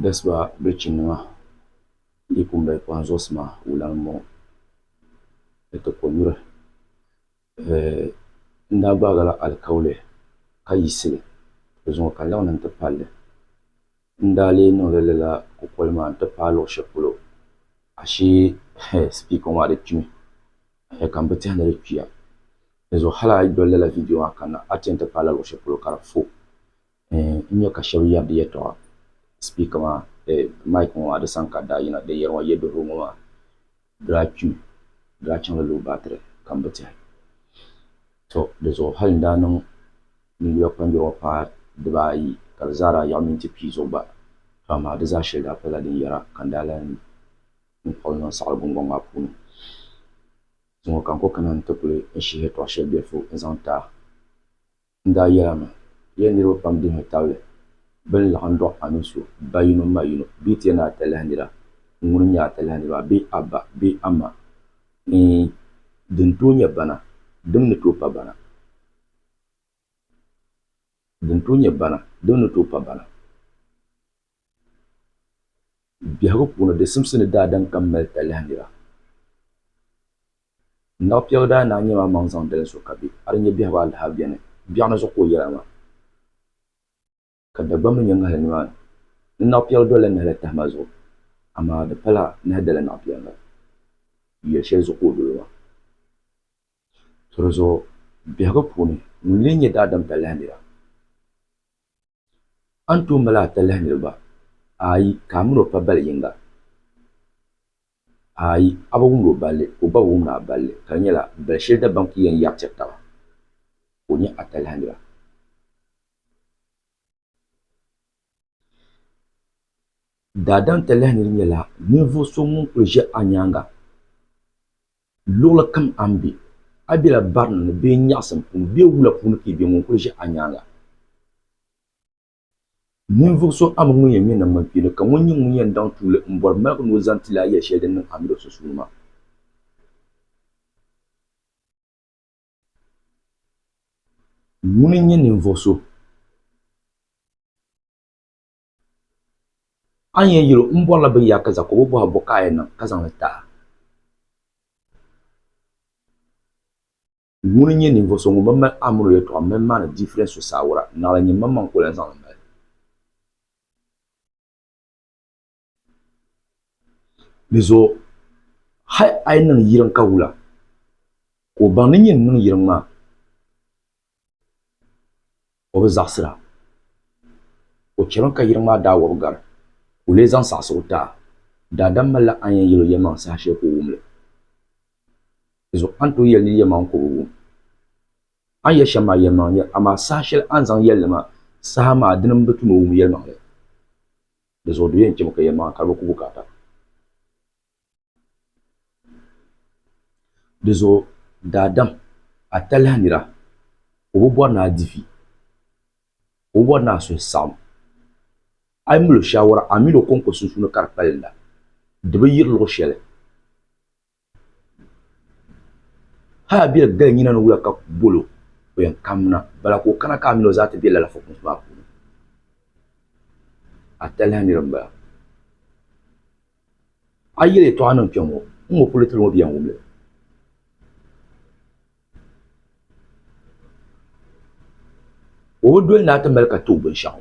Dasiba bɛ chinima di pun mali kpaŋ zuɣusi maa wulana m-bɔŋɔ ni ti konyuri n daa gbaagila alikauli ka yiɣisi di zuŋɔ ka laɣim n-ti palli n daa lee niŋla lala kukoli maa n-ti paai luɣ shɛli polo ashee sipiika ŋɔ maa di kpimi ka m bi tehi ni di kpiya dinzuɣu hali a yi doli lala viidiyo maa kanna a ti yɛn ti paai la luɣ shɛli polo ka di fu N nya ka shɛba yɛri di yɛtɔɣa sipiika maa, eh, mic ŋɔ maa di sani ka daa yina, din yɛri ŋɔ yɛduhirigu ŋɔ maa daa kpi mi, di daa chaŋla low battery ka m bi tɛhi. Tɔ! Di zuɣu hali n daa niŋ ninyula kpanjɔri ŋɔ paai dibaa ayi ka di zaa daa yiɣi minti pia zuɣu gba pam amaa di zaa shɛli daa palila din yɛra ka n daa lan kpuɣi li niŋ saɣiri guŋgɔŋ maa puuni. Zuŋɔ ka n kɔkana nti kuli n shihi yɛtɔɣ shɛli bilifu n zaŋ ti a. N daa yɛl a mi, Yɛn niriba pam dihimi tabili bɛ ni laɣim dɔɣi a mini so ba yino ma yino bee ti yɛn ni a talahi nira ŋun n-nyɛ a talahi nira maa bee a ba bee a ma ni din tooi nyɛ bana dim ni tooi pa bana. Biɛhigu puuni, di simsi ni daa daŋ ka m mali talahi nira. N naɣ piɛgu daa naai nyam a maŋ zaŋ dalim so ka be a di nya biɛhigu alaha beni. Biɛɣu ni zuɣu ka o yɛla maa, ka Dagbamba mi nya ŋahili nimaani. N naɣ piɛgu dolila nahi la tahima zuɣu, amaa di pala nahi dala naɣ piɛgu noli. Yɛli shɛli zuɣu ka o doli o maa? Tɔri zuɣu biɛhigu puuni, ŋun leei nyɛ daadam talahi nira? A ni tooi mali atalihi niriba? Aai, ka a min o pa bali yiŋga? Aai, a bi wumd o balli, ka o gba bi wumd a balli, ka di nyɛla, bal shɛli Dagbaŋ ti yɛn yɛri tiri taba, ka o nyɛ atalihi nira. Daadam talihi nir nyɛla ninvuɣ so ŋun kul ʒe a nyaaŋa. Luɣili kam a ni be, a bela barina ni bee nyaɣisim puuni bee wula puuni ka i be, ŋun kul ʒe a nyaaŋa. Ninvuɣ so a mi ŋun yɛn ŋme namgbankpeeni, ka ŋɔ n-nyɛ ŋun yɛn daŋ tuuli m-bɔri maligi ni o zaŋ ti li a yɛli shɛli din niŋ a mini o sunsuuni maa. Ŋuni n-nyɛ ninvuɣ so? A ni yɛn yɛl o, M bɔrila bɛ ya ka Jakɔb bɔhi bɔ ka a yɛn niŋ ka zaŋ li ti a? Ŋuni n-nyɛ ninvuɣ so ŋun bi mali Amɔri yɛtɔɣa m-mali maani difiren so saawara, naɣila nyini maŋmaŋ ka o lan zaŋ li mali? Di zuɣu hal a yɛn niŋ yiriŋ ka wula, ka o baŋ ni nyini niŋ yiriŋ maa. O bi zaɣisir a. O chɛmi ka yiriŋ maa daa wɔbi gari, ka o lee zaŋ saɣisi o taa. Daadam malila a ni yɛn yɛl o yɛlimaŋ saha shɛli ka o wum li. Dinzuɣu a ni tooi yɛli nir yɛlimaŋ ka o bi wum. A ni yɛli shɛm maa yɛlimaŋ n-nyɛ, amaa saha shɛli a ni zaŋ yɛli li maa saha maa dini m-bi tu ni o wum yɛlimaŋli. Dinzuɣu do yɛn chɛmi ka yɛlimaŋli kari bi ku bukaata. Dizuɣu daadam atalihi nira o bi bɔri ni a difi o bi bɔri ni a suhu saɣim a yi mali o shaawara a mini o kɔŋko sunsuuni ka di kpalinda di bi yiri luɣ shɛli hali a bɛli gali nyina ni wuya ka bol o o yɛn kamina bala ka o kana ka a mini o zaa ti be lala fukumsi maa puuni atalihi nira m-bala. A yi yɛli yɛtɔɣa niŋ kpɛŋ ŋɔ, n ŋɔ polo tili ŋɔ bɛ yɛn wum li. O bi doli ni a ti mali ka ti o binshɛɣu.